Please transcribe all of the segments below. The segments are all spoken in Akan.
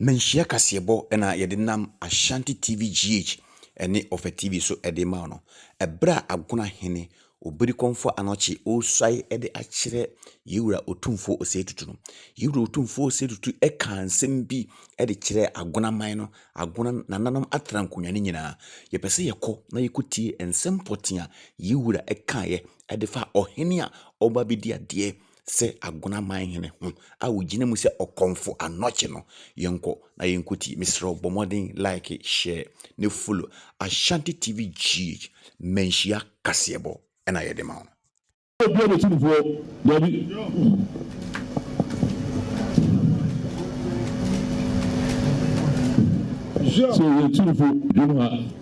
Manhyia kaseɛbɔ na yɛde nam Ashanti TV GH ne Ɔfɛ TV so de ma wo no. Ɛberɛ a Agona hene Obirikɔmfo Anɔkye ɔresuae de akyerɛ Yei Wura Otumfoɔ Osei Tutu no, Yei Wura Otumfoɔ Osei Tutu kaa nsɛm bi de kyerɛɛ Agona man no, Agona nananom atena nkonnwa no nyinaa. Yɛpɛ sɛ yɛkɔ na yɛkɔtie nsɛm pɔtee a Yei Wura kaeɛ de fa ɔhene a ɔreba abɛdi adeɛ sɛ agunaman hene ho a ogyina mu sɛ ɔkɔmfo anɔkye no. Yɛnkɔ na yɛnkɔtie. Mesrɛ wo bɔ mmɔden like, share, ne follow Ashanti TV GH manhyia kaseɛbɔ ɛna yɛde ma wo. Obi a bɛtu no foɔ dabi. Sɛ yɛtu no fo dwom ha.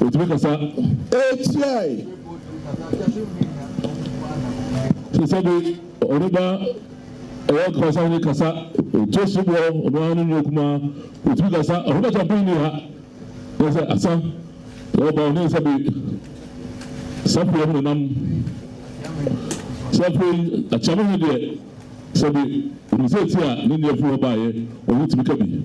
Otumi kasa. Ekyirɛe. Te sɛ bi ɔno ba ɛyɛ kasa ne kasa otu so bɔ ɔno ara ne nua kuma otumi kasa ɔno ba champion ni ha ne sɛ asa ɔba ɔne sɛ bi sapo ɔmo nam sapo akyame ho deɛ sɛ bi ɔno sɛ ti a ne nua fi hɔ baayɛ ɔno tumi ka bi.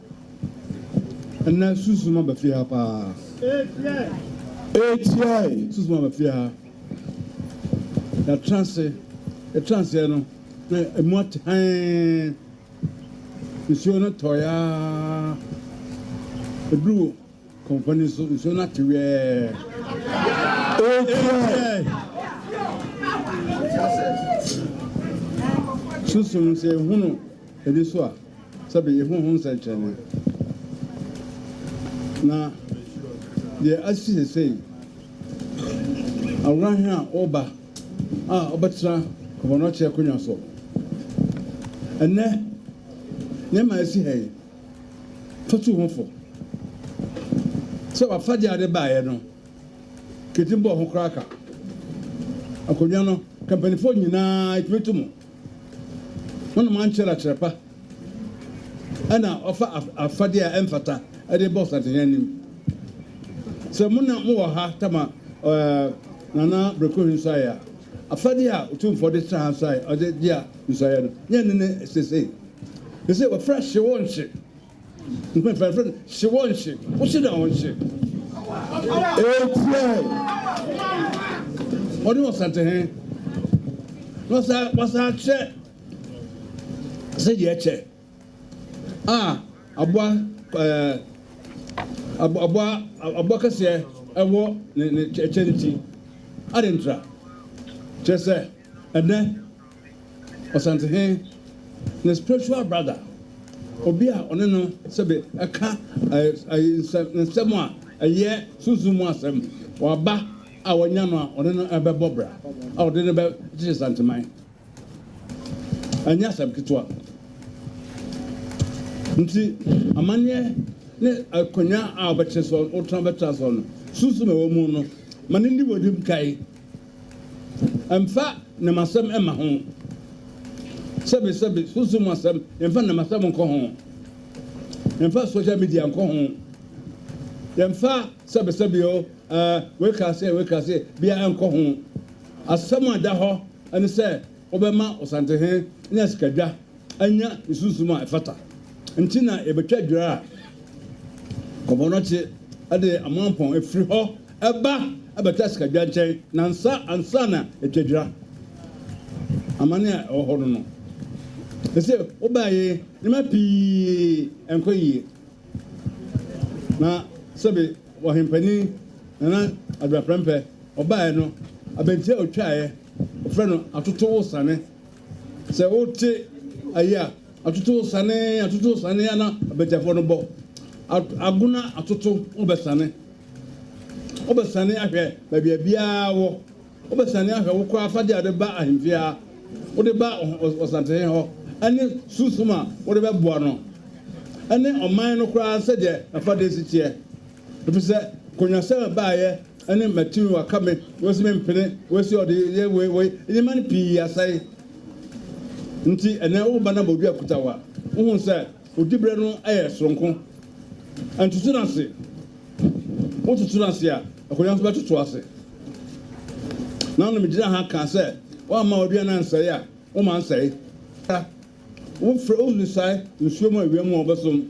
Ɛnnɛ sunsum aba fie ha paa. Eetiae! Sunsum aba fie ha. Yɛatra ase. Yɛtraa aseɛ no, na emu ate hann. Nsuo no tɔeɛ ara. Ɛduruu Kɔmfɔ no nso, nsuo no ate wɛɛ. Ekiae. Sunsum, sɛ yɛhunu ani so a, sɛbe yɛhu ho nsɛnkyerɛnne. Na deɛ asi sesei, aworahen a ɔreba a ɔbɛtena kɔmfɔ no ɔkyerɛ akonnwa so. Ɛnnɛ, nneɛma a ɛsi ha yi, kɔtuu ho fo sɛ wafa deɛ ɔde baeɛ no kɛtim bɔɔ ho koraa ka. Akonnwa no, kampanifoɔ nyinaa ɛtumi to mu. Wonom ankyɛre akyɛre pa ɛna ɔfa afadeɛ a ɛmfata ɛde bɔ Santehene anim. Sɛ mo na mowɔ ha tama Nana Brekohe nsuaeɛ a, afadeɛ a Otumfoɔ de tra ha nsuaeɛ, ɔde gye a nsuaeɛ no, nyɛ ne ne sesei Te sɛ wɔfrɛ hye wo nhye. Mpanimfoɔ no frɛ no hye wo nhye. Wohye no a ɔnhye. Etia ɔne ɔsatehe na ɔsa wasa akyɛ sɛ deɛ ɛkyɛ a aboa ɛɛ aboa aboa kɛseɛ ɛwɔ ne ne kyɛ ne ti. Adentra kyerɛ sɛ ɛnɛ. Ɔsantehene ne spiritual brother, obi a ɔne no sɛbe ɛka nsɛm a ɛyɛ sunsum mu asɛm, waba a wanya no a ɔne no ɛbɛbɔ bra a ɔde no bɛkyekye Santeman. Ɛnyɛ asɛm ketewa. Nti amanneɛ ne akonnwa a wobɛte so, wotena bɛtra so no, sunsum a ɛwɔ mu no, ma no nni w'anim kan. Ɛmfa nam asɛm mma ho. Sɛbesɛbe, sunsum mu asɛm, yɛmfa nam asɛm nkɔ ho. Yɛmfa social media nkɔ ho. Yɛmfa sɛbesɛbe o, ɛɛ, wei kaa sɛ, wei kaa sɛ, bia nkɔ ho. Asɛm a ɛda hɔ ne sɛ wobɛma Osantehe anya sikadwa anya ne sunsum a ɛfata nti na yɛbɛtwa dwira a kɔmɔnɔkye de amoampɔn afiri hɔ ba bɛtɔ asikadwa nkyɛn nansa ansa na yɛatwa dwira. Amane a ɛwɔ hɔ no no, sɛsɛ wobaa yi nneɛma pii nkɔ yie na sɛbe ɔhenpanin Nana Addo Aprɛmpɛ ɔbaaɛ no, abɛnti a ɔtwaaɛ, wɔfrɛ no Atoto Wosane. Sɛ wote ayi a, atoto sane, atoto sane ana abatiafoɔ no bɔ. Agona atoto, wobɛsane. Wobɛsane ahwɛ baabi a biara wɔ. Wobɛsane ahwɛ wo kɔ afadeɛ a wode ba ahemfie ha, wode ba ɔsantehene hɔ, ɛne sunsum a wode bɛboa no, ɛne ɔman no koraa sɛdeɛ n'afadeɛ si teɛ. Efisɛ konwasɛm a ɛbaeɛ ne matumi, wɔaka me, wɔasi me mpene, wɔasi ɔdeyɛ wei wei, nneɛma no pii asɛe. Nti ɛnnɛ woreba no abɔdua kuta wo a, wohu sɛ wo diberɛ no yɛ soronko. Ntoto no ase. Wototo no ase a, akonnwa nso bɛtoto wo ase. Nano megyinaa ha kaa sɛ, woamma w'aduane ansɛe a, woma nsɛe. Wofrɛ wo nsae nsuo mu awia mu a wobɛsom,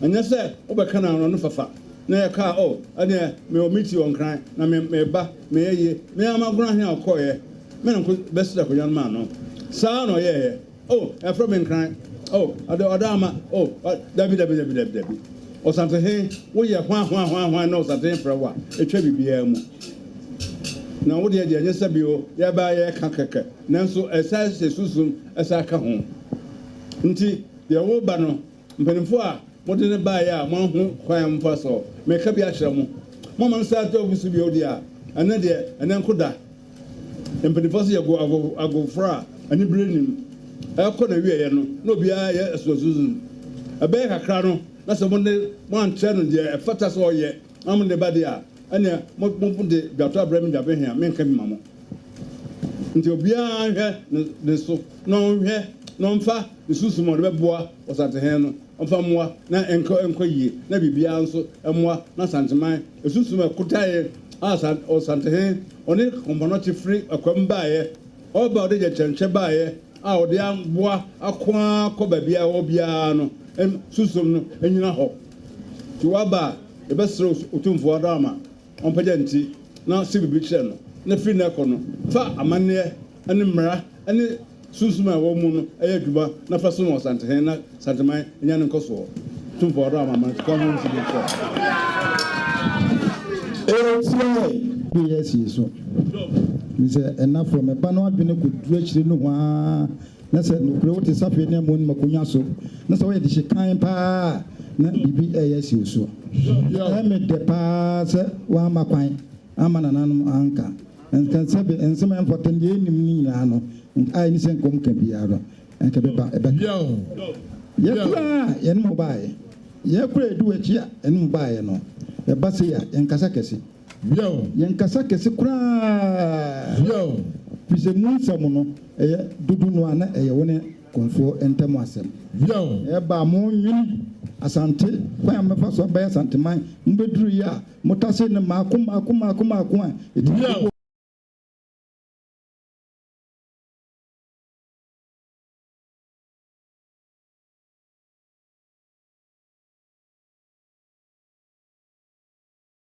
ɛnyɛ sɛ wobɛka no ano no fafa na yɛ kaa oh ɛneɛ mewɔ meeting wɔ nkran na me meba meyɛ yie me ara magoro ahe a ɔkɔeɛ me na nko bɛsrɛ akonwa no maa no saa na ɔyɛɛyɛ oh ɛfrɛ me nkran oh ɔde ɔda ama oh dabi dabi dabi dabi dabi ɔsantehe woyɛ hwan hwan hwan hwan na ɔsantehe frɛ wo a ɛtwa biribiara mu na wodeɛ deɛ ɛnyɛ sɛ bio yɛbaa yɛka kɛkɛ Nanso ɛsan hyɛ sunsum san ka ho. Enti deɛ wo ba no, mpanimfoɔ a mode no baeɛ a moanhu kwan a momfa so, mereka bi akyerɛ mo, moamma no san atu agu so bio deɛ a, ɛnnɛ deɛ ɛnnɛ nko da. Mpanimfoɔ se yɛgo ago agoforɔ a anibereɛ nnim. Ɛrekɔ n'awieeɛ no, na obiara reyɛ asuasunsum. Ɛbɛyɛ kakra no, na sɛ mo de mo ankyerɛ no deɛ ɛfata sɛ ɔyɛ na mode ba deɛ a, ɛnneɛ mo mode dwatoa brɛ me dwabehwee a, merenka bi ma mo. Nti obiara nhwɛ ne ne so na ɔnhwɛ na ɔmfa ne sunsum a ɔde bɛboa Ɔsantehene no mfa mmoa na ɛnkɔ nkɔ yie na biribiara nso mmoa na Asanteman sunsum a ɛkotaeɛ a Ɔsantehene ɔne Kompanɔkye firi akwam baeɛ ɔba a ɔde gyɛnkyɛnkyɛ baeɛ a ɔde aboa ako ara kɔ baabi a ɛwɔ biara no sunsum no nyina hɔ. Nti waba a yɛbɛsrɛ Otumfoɔ Adam ama ɔmpagya nti na ɔse biribi kyerɛ no, na firi nnɛ kɔ no, fa amanneɛ ne mmara ne sunsum a ɛwɔ wo mu no yɛ adwuma na fa som Ɔsantehene na Santeman nya ne nkɔsoɔ. Tumfoɔ Ɔdɔ Amanaman Tukɔ Ahorow Nsi Bere Tiaa. Tiae. Bere asie so. Mesɛ ɛnafoɔ, me ba no adwene kɔduru akyire nohoaa. Na sɛ nokorɛ wote safe ne amonom akonnwa so, na sɛ woyɛ dehye kann paa a, na biribi reyɛ asi wo so. Ɛyɛ me dɛ paa sɛ woamma kwan amma nananom anka nka sɛ be nsɛm a ɛmfata no deɛ yɛnim no nyinaa no, a ɛne sɛ nka wɔnka biara no, anka ɛbɛba, ɛbɛka. Yɛte a, ɛne mo baeɛ. Yɛkɔ a, ɛdu akyi a, ɛne mo baeɛ no. Ɛba sei a, yɛnkasa kɛse. Bio. Yɛn kasa kɛse koraa. Bio. Firi sɛ mu nsɛm no, ɛyɛ dodo no a na ɛyɛ wo ne Konfoɔ ntam asɛm. Bio. Na ɛbaa mo nwene Asante kwan a mɛfa so abɛyɛ Asanteman, mo bɛduruiɛ a, mo tasee no mmaako mmaako mmaako mmaako a ɛtumi kɔkɔɔ. Bio.